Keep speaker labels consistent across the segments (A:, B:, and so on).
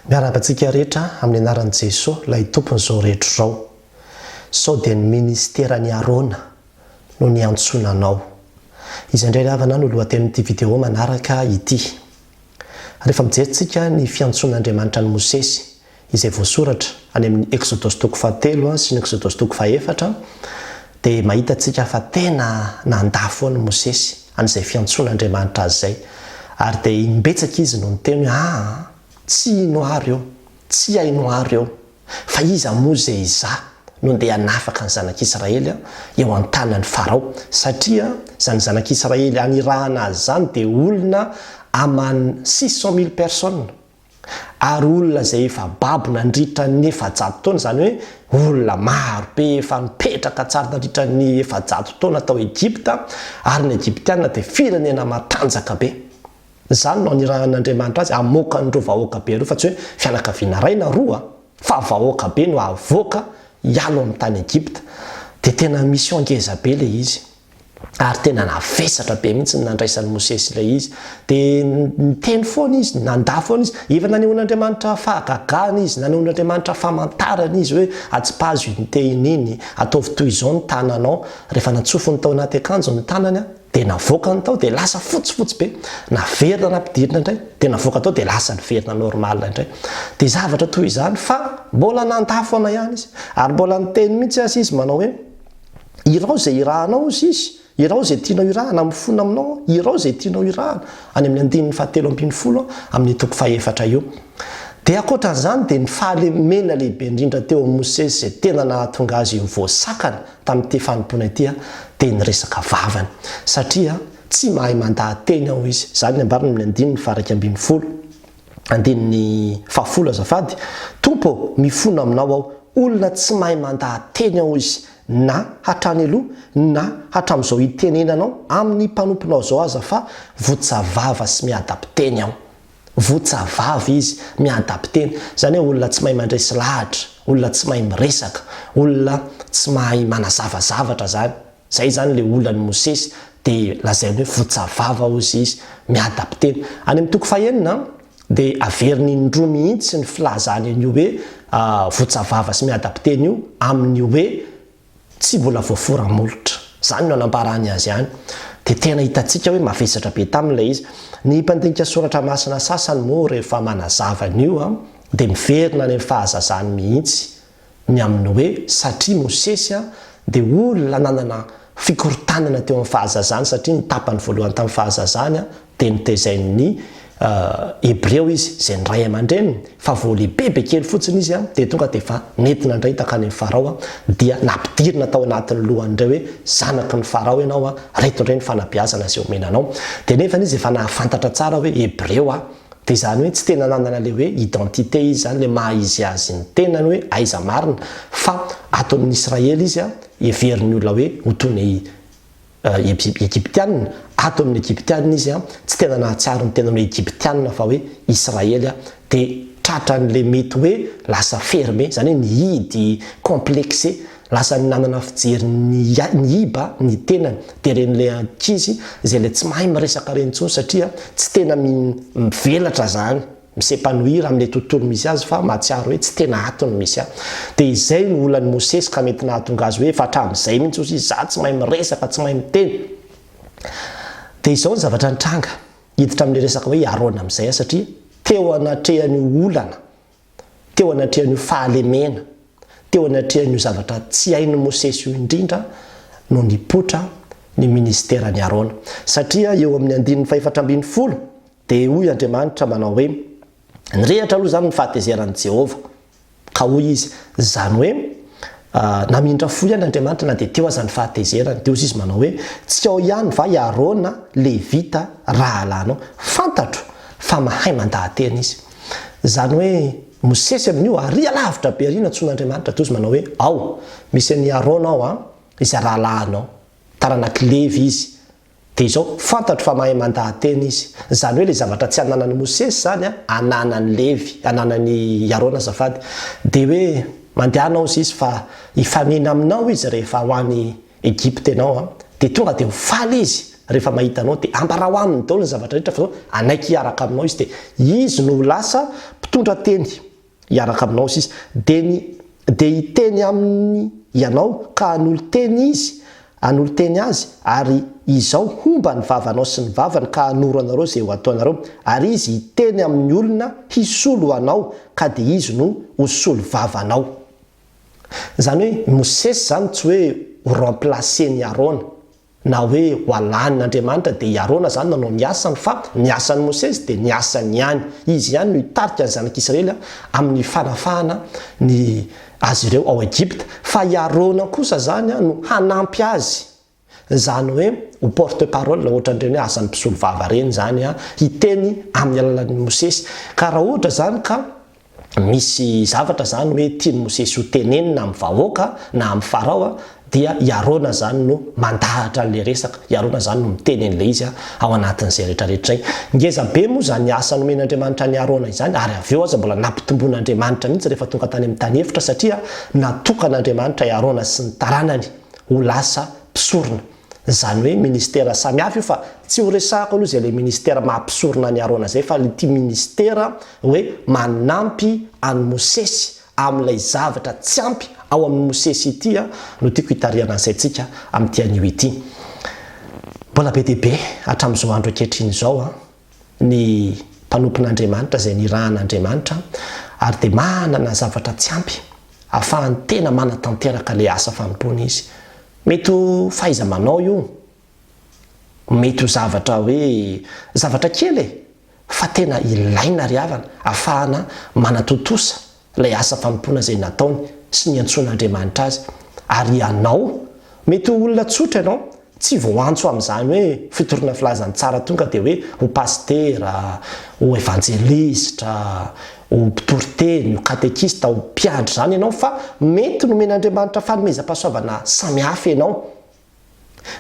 A: Miarahaba antsika rehetra amin'ny anaran'i Jesoa ilay Tompon'izao rehetra izao. Sao dia ny Ministeran'i Arona no niantsoana anao. Izay indray ry havana no lohatenin'ity video manaraka ity. Rehefa mijery tsika ny fiantsoan'Andriamanitra an'i Mosesy, izay voasoratra any amin'ny Eksodosy toko fahatelo sy ny Eksodosy toko fahefatra, Dia mahita antsika fa tena nandà foana i Mosesy an'izay fiantsoan'Andriamanitra azy izay. Ary dia imbetsaka izy no niteny hoe, Aa, tsy hino aho ireo, tsy haino aho ireo, fa iza moa izay izaho no ndeha hanafaka ny zanak'Israely eo an-tanan'i Farao, satria izany zanak'Israely hanirahana azy izany dia olona aman six cent mille personnes. ary olona izay efa babo nandritra ny efajato taona, izany hoe olona maro be efa nipetraka tsara nandritra ny efajato taona tao Egypta, ary ny Egyptiana dia firenena matanjaka be. Izany no anirahan'Andriamanitra azy hamoaka an'ireo vahoaka be ireo, fa tsy hoe fianakaviana iray na roa, fa vahoaka be no havoaka hialo amin'ny tany Egypta. Dia tena mission ngeza be ilay izy. ary tena navesatra be mihitsy ny nandraisan'i Mosesy ilay izy. Dia niteny foana izy, nandà foana izy. Efa nanehoan'Andriamanitra fahagagana izy, nanehoan'Andriamanitra famantarana izy hoe atsipazo iny tehina iny, ataovy toy izao ny tananao. Rehefa natsofony tao anaty akanjony ny tanany, dia navoakany tao, dia lasa fotsifotsy be. Naverina nampidirina indray, dia navoaka tao, dia lasa niverina normal indray. Dia zavatra toy izany, fa mbola nandà foana ihany izy. Ary mbola niteny mihitsy aza izy manao hoe. Irao izay irahanao, hoy Izy, irao izay tianao irahana, mifona aminao Aho, irao izay tianao irahana, any amin'ny andininy fahatelo ambin'ny folo amin'ny toko fahefatra io. Dia ankoatra an'izany dia ny fahalemena lehibe indrindra teo amin'i Mosesy izay tena nahatonga azy ho voasakana tamin'ity fanompoana ity dia ny resaka vavany. Satria tsy mahay mandaha-teny aho, hoy izy. Izany no ambarany amin'ny andininy faha iraika ambin'ny folo. Andininy fahafolo azafady, Tompo ô, mifona aminao aho, olona tsy mahay mandaha-teny aho izy, na hatrany aloha, na hatramin'izao hitenenanao amin'ny mpanomponao izao aza fa votsa vava sy miadam-piteny aho. Votsa vava izy, miadam-piteny. Izany hoe olona tsy mahay mandresy lahatra, olona tsy mahay miresaka, olona tsy mahay manazava zavatra izany. Zay izany le olan'i Mosesy de lazainy hoe votsa vava hozy izy, mi-adapter. Any amin'ny toko fahenina de averiny indroa mihitsy ny filazany an'io hoe votsa vava sy mi-adapter io amin'ny hoe tsy mbola voafora molotra. Zany no anamparany azy any. De tena hitantsika hoe mavesatra be taminy ilay izy. Ny mpandinika soratra masina sasany moa rehefa manazava an'io de miverina any amin'ny fahazazany mihitsy ny amin'ny hoe satria Mosesy dia olona nanana fikorontanana teo amin'ny fahazazany satria ny tapany voalohany tamin'ny fahazazany dia notezain'ny Hebreo izy izay ny ray aman-dreniny fa vao lehibe be kely fotsiny izy dia tonga dia efa nentina indray takany amin'ny Farao dia nampidirina tao anatin'ny lohan'ireo hoe zanaky ny Farao ianao reto indray ny fanabeazana izay omena anao dia nefa izy efa nahafantatra tsara hoe Hebreo Dia izany hoe tsy tena nanana ilay hoe identité izy izany, ilay maha izy azy ny tenany hoe aiza marina, fa ato amin'ny Israely izy, heverin'ny olona hoe ho toy ny Egyptianina, ato amin'ny Egyptianina izy tsy tena nahatsiaro ny tenany hoe Egyptianina fa hoe Israely, dia tratran'ilay mety hoe lasa fermé, izany hoe nihidy, complexé, Lasa ny nanana fijery ny iba ny tenany dia ireny ilay ankizy izay ilay tsy mahay miresaka ireny intsony satria tsy tena mivelatra izany, mi-s'epanouir amin'ilay tontolo misy azy fa mahatsiaro hoe tsy tena ato ny misy ahy. Dia izay no olan'i Mosesy ka mety nahatonga azy hoe efa hatramin'izay mihitsy ozy izy izaho tsy mahay miresaka, tsy mahay miteny. Dia izao ny zavatra nitranga, hiditra amin'ilay resaka hoe i Arona amin'izay aho satria teo anatrehan'io olana teo anatrehan'io fahalemena, teo anatrehan'io zavatra tsy hain'i Mosesy io indrindra no nipoitra ny ministeran'i Arona. Satria eo amin'ny andininy fahefatra ambin'ny folo dia hoy Andriamanitra manao hoe, Nirehatra aloha izany ny fahatezeran'i Jehovah. Ka hoy izy, izany hoe namindra fo ihany Andriamanitra na dia teo aza ny fahatezerany. Dia hoy izy manao hoe, Tsy ao ihany va i Arona, Levita, rahalanao? Fantatro fa mahay mandaha-tena izy. Izany hoe, Mosesy amin'io arỳ alavitra be arỳ nantsoin'Andriamanitra toa izy manao hoe, Ao, misy an'i Arona ao an, izay rahalahinao. Taranak'i Levy izy. Dia izao, fantatro fa mahay mandaha-teny izy. Izany hoe ilay zavatra tsy ananan'i Mosesy izany an, ananan'i Levy, ananan'i Arona azafady. Dia hoe, Mandehana ao izy fa hifamihina aminao izy rehefa ho any. Egypta ianao an, dia tonga dia ho faly Izy rehefa mahita anao, dia ambarao Aminy daholo ny zavatra rehetra, fa izao hanaiky hiaraka aminao Izy, dia Izy no ho lasa mpitondra teny hiaraka aminao sy izy, dia ny dia hiteny aminy ianao ka hanolo-teny Izy, hanolo-teny Azy, ary izao homba ny vavanao sy ny vavany ka hanoro anareo izay ho ataonareo, ary Izy hiteny amin'ny olona hisolo anao ka dia Izy no ho solovavanao. Izany hoe i Mosesy izany tsy hoe ho remplacer-n'i Arona, na hoe ho alahin' Andriamanitra dia i Arona izany nanao ny asany fa ny asan'i Mosesy dia ny asany ihany, izy ihany no hitarika ny Zanak' Isiraely amin'ny fanafahana ny azy ireo ao Egypta, fa i Arona kosa izany no hanampy azy Izany hoe ho porte parole ohatran'ireny hoe asan'ny mpisolovava ireny izany hiteny amin'ny alalan'i Mosesy. Ka raha ohatra izany ka misy zavatra izany hoe tian'i Mosesy ho tenenina amin'ny vahoaka na amin'i Farao dia i Arona izany no mandahatra an'ilay resaka. I Arona izany no miteny an'ilay izy ao anatin'izay rehetrarehetra izay. Ngeza be moa izany asa nomen'Andriamanitra an'i Arona izany ary avy eo aza mbola nampitombon'Andriamanitra mihitsy rehefa tonga tany amin'ny tany efitra satria natokan'Andriamanitra i Arona sy ny taranany ho lasa mpisorona. Izany hoe ministera samy hafa io fa tsy ho resahako aloha izay ilay ministera maha mpisorona an'i Arona izay fa ity ministera hoe manampy an'i Mosesy amin'ilay zavatra tsy ampy ao amin'i Mosesy ity no tiako hitarihana ny saintsika amin'ity anio ity. Mbola be dia be hatramin'izao andro ankehitriny izao. ny mpanompon'Andriamanitra izay nirahan'Andriamanitra ary dia manana zavatra tsy ampy hahafahany tena manatanteraka ilay asa fanompoana izy. Mety ho fahaiza-manao io, mety ho zavatra hoe zavatra kely e, fa tena ilaina ry havana hahafahana manatontosa ilay asa fanompoana izay nataony sy niantsoan'Andriamanitra azy. Ary ianao? Mety ho olona tsotra ianao, tsy voantso amin'izany hoe fitoriana filazan'ny tsara tonga dia hoe ho pasitera, ho evanjelistra, ho mpitory teny, ho katekista, ho mpiandry izany ianao, fa mety nomen'Andriamanitra fanomezam-pahasoavana samihafa ianao.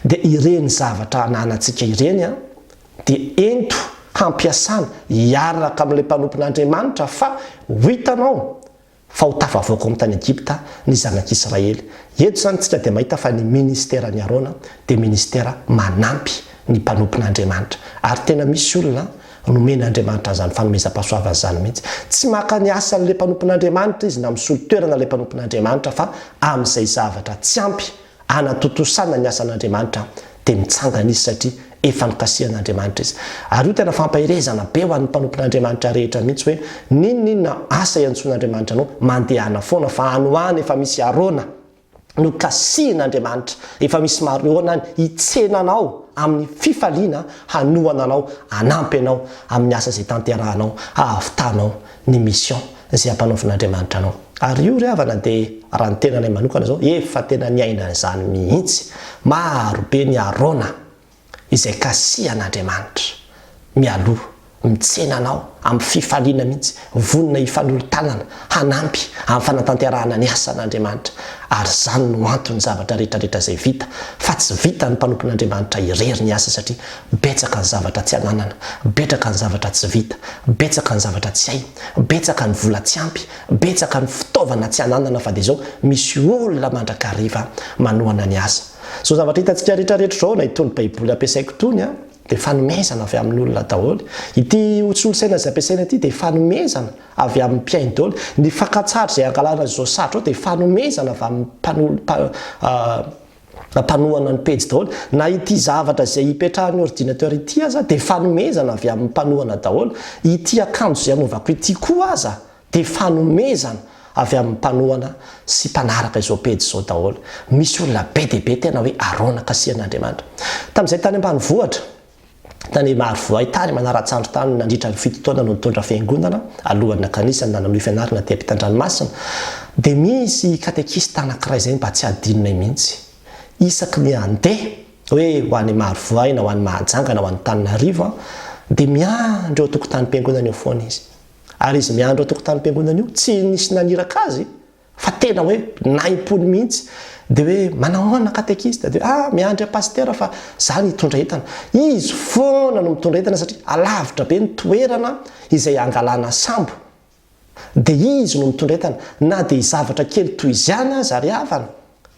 A: dia ireny zavatra ananantsika ireny dia ento hampiasana hiaraka amin'ilay mpanompon'Andriamanitra fa ho hitanao fa ho tafavoaka ao amin'ny tany Egypta ny zanak'Israely. Eto izany isika dia mahita fa ny ministeran'i Arona dia ministera manampy ny mpanompon'Andriamanitra ary tena misy olona nomen'Andriamanitra an'izany fanomezam-pahasoavana izany mihitsy. Tsy maka ny asan'ilay mpanompon'Andriamanitra izy na misolo toerana ilay mpanompon'Andriamanitra fa amin'izay zavatra tsy ampy hanatontosana ny asan'Andriamanitra dia mitsangana izy satria efa nokasihan'Andriamanitra izy. Ary io tena fampaherezana be ho an'ny mpanompon'Andriamanitra rehetra mihitsy hoe n'inon'inona asa iantsoan'Andriamanitra anao, mandehana foana fa any ho any efa misy Arona nokasihin'Andriamanitra, efa misy Mariona any hitsena anao amin'ny fifaliana hanohana anao, hanampy anao amin'ny asa izay tanterahanao hahavitanao ny mission izay ampanaovin'Andriamanitra anao. Ary io ry havana dia raha ny tenanay manokana izao efa tena niaina an'izany mihitsy, maro be ny arona izay kasihan'Andriamanitra mialoha, mitsena anao amin'ny fifaliana mihitsy, vonona hifanolo-tanana hanampy amin'ny fanatanterahana ny asan'Andriamanitra, ary izany no anton'ny zavatra rehetra rehetra izay vita, fa tsy vitan'ny mpanompon'Andriamanitra irery ny asa satria Betsaka ny zavatra tsy ananana, betraka ny zavatra tsy vita, betsaka ny zavatra tsy hay, betsaka ny vola tsy ampy, betsaka ny fitaovana tsy ananana fa dia zao misy olona mandrakariva manohana ny asa. Zao zavatra hitantsika rehetra rehetra zao na itony baiboly ampiasaiko itony a dia fanomezana avy amin olona daholo, ity ho solosaina izay ampiasaina ity dia fanomezana avy amin mpihaino daholo, ny fakantsary izay angalana izao satroao dia fanomezana avy amin mpanolo mpa a. Ampanohana ny pejy daholo. Na ity zavatra izay ipetrahan'ny ordinateur ity aza dia fanomezana avy amin'ny mpanohana daholo. Ity akanjo izay anaovako ity koa aza dia fanomezana avy amin'ny mpanohana sy mpanaraka izao pejy izao daholo. Misy olona be dia be tena hoe aronaka asian'Andriamanitra. Tamin'izahay tany ambanivohitra. Tany Marovoay tany, manara-tsandry tany nandritra ny fito taona no nitondra fiangonana, alohan'ny nakanisany na nanohy fianarana aty am-pitandranomasina, dia misy katekista anankiray izay mba tsy adinonay mihitsy. Isaky ny handeha, hoe ho any Marovoay na ho any Mahajanga na ho any Antananarivo aho, dia miandry eo an-tokotanim-piangonana eo foana izy. Ary izy miandry eo an-tokotanim-piangonana io, tsy nisy naniraka azy, Fa tena hoe nahim-pony mihitsy. Dia hoe, manao ahoana katekista? Dia hoe, ah, miandry an'i pasitera fa izaho no hitondra entana. Izy foana no mitondra entana satria alavitra be ny toerana izay hangalana sambo. Dia izy no mitondra entana. Na dia zavatra kely toy izany aza ry havana,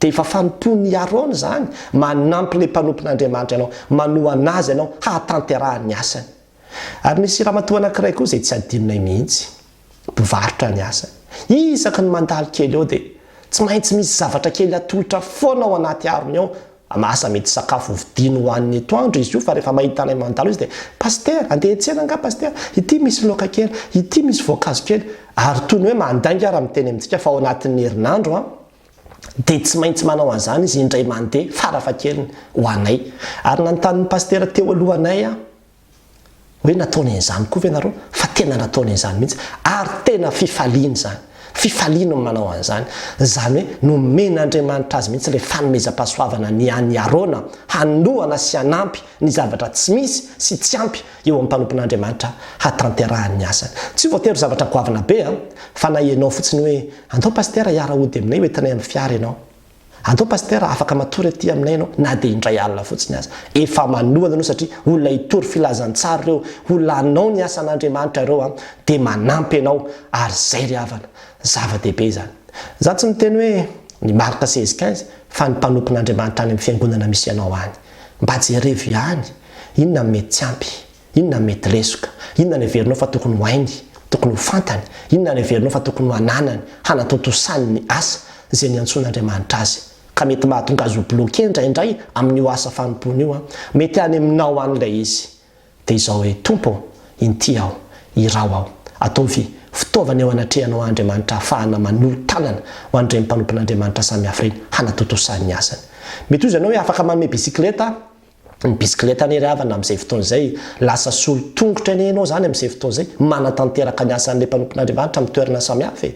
A: dia efa fanompoan'i Arona izany. Manampy ilay mpanompon'Andriamanitra anao. Manohana azy ianao hahatanterahany ny asany. Ary misy ramatoa anankiray koa izay tsy adinonay mihitsy. Mpivarotra ny asany. Isaky ny mandalo kely eo dia tsy maintsy misy zavatra kely atolotra foana ao anaty arony ao. Asa mety sakafo hovidiany hohaniny etoandro izy io fa rehefa mahita anay mandalo izy dia, Pasitera, handeha hiantsena angaha Pasitera? Ity misy laoka kely, ity misy voankazo kely. Ary toy ny hoe mandainga ary miteny amintsika fa ao anatin'ny herinandro an! dia tsy maintsy manao an'izany izy indray mandeha farafahakeliny ho anay. Ary nanontany ny pasitera teo alohanay aho hoe nataony an'izany koa ve ianareo? Fa tena nataony an'izany mihitsy ary tena fifaliany izany. Fifaliany ny manao an'izany. Izany hoe nomen'Andriamanitra azy mihitsy ilay fanomezam-pahasoavana ny an'i Arona hanohana sy hanampy ny zavatra tsy misy sy tsy ampy eo amin'ny mpanompon'Andriamanitra hatanterahany ny asany. Tsy voatery zavatra goavana be an! Fa na ianao fotsiny hoe Andao Pasitera hiara-hody aminay hoentinay amin'ny fiara ianao. Andao Pasitera afaka matory aty aminay ianao na dia indray alina fotsiny aza. Efa manohana anao satria olona hitory filazantsara ireo. Olona hanao ny asan'Andriamanitra ireo an! Dia manampy ianao ary izay ry havana. Zava-dehibe izany. Izaho tsy miteny hoe ny Marc seize quinze fa ny mpanompon'Andriamanitra any amin'ny fiangonana misy ianao any. Mba jerevo ihany inona no mety tsy ampy. Inona no mety lesoka? Inona no heverinao fa tokony ho hainy, tokony ho fantany? Inona no heverinao fa tokony ho ananany, hanatontosany ny asa izay niantsoan'Andriamanitra azy? Ka mety mahatonga azy ho bloqué indraindray amin'io asa fanompoana io an! Mety any aminao any ilay izy. Dia izao hoe, Tompo ô, inty aho. Iraho aho. Ataovy fitaovana eo anatrehanao Andriamanitra ahafahana manolo-tanana ho an'ireny mpanompon'Andriamanitra samihafa ireny, hanatontosany ny asany. Mety ho izy ianao hoe afaka manome bisikileta, Ny bisikileta anie ry havana amin'izay fotoana izay, lasa solo tongotra anie ianao izany amin'izay fotoana izay, manatanteraka ny asan'ilay mpanompon'Andriamanitra amin'ny toerana samihafa e!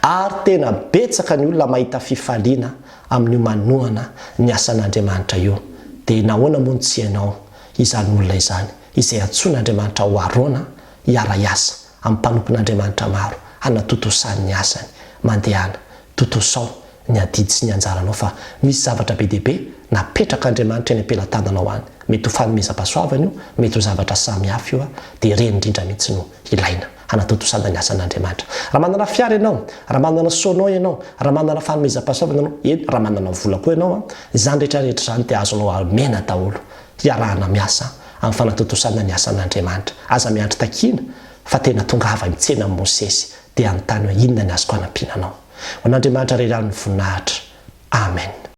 A: Ary tena betsaka ny olona mahita fifaliana amin'io manohana ny asan'Andriamanitra io. Dia nahoana moa no tsy ianao izany olona izany, izay antsoin'Andriamanitra ho Arona hiara-hiasa? amin'ny mpanompon'Andriamanitra maro hanatontosany ny asany. Mandehana. Tontosao ny adidy sy ny anjaranao fa misy zavatra be dia be napetrak'Andriamanitra eny am-pelatananao any. Mety ho fanomezam-pahasoavana io, mety ho zavatra samy hafa io, dia ireny indrindra mihitsy no ilaina hanatontosana ny asan'Andriamanitra. Raha manana fiara ianao, raha manana sono ianao, raha manana fanomezam-pahasoavana ianao, eny, raha manana vola koa ianao, izany rehetrarehetra izany dia azonao amena daholo hiarahana miasa amin'ny fanatontosana ny asan'Andriamanitra. Aza miandry takiana fa tena tongava mitsena amin'i Mosesy dia anontany hoe inona ny azoko anampiana anao. Ho an'Andriamanitra irery ihany ny voninahitra. Amen.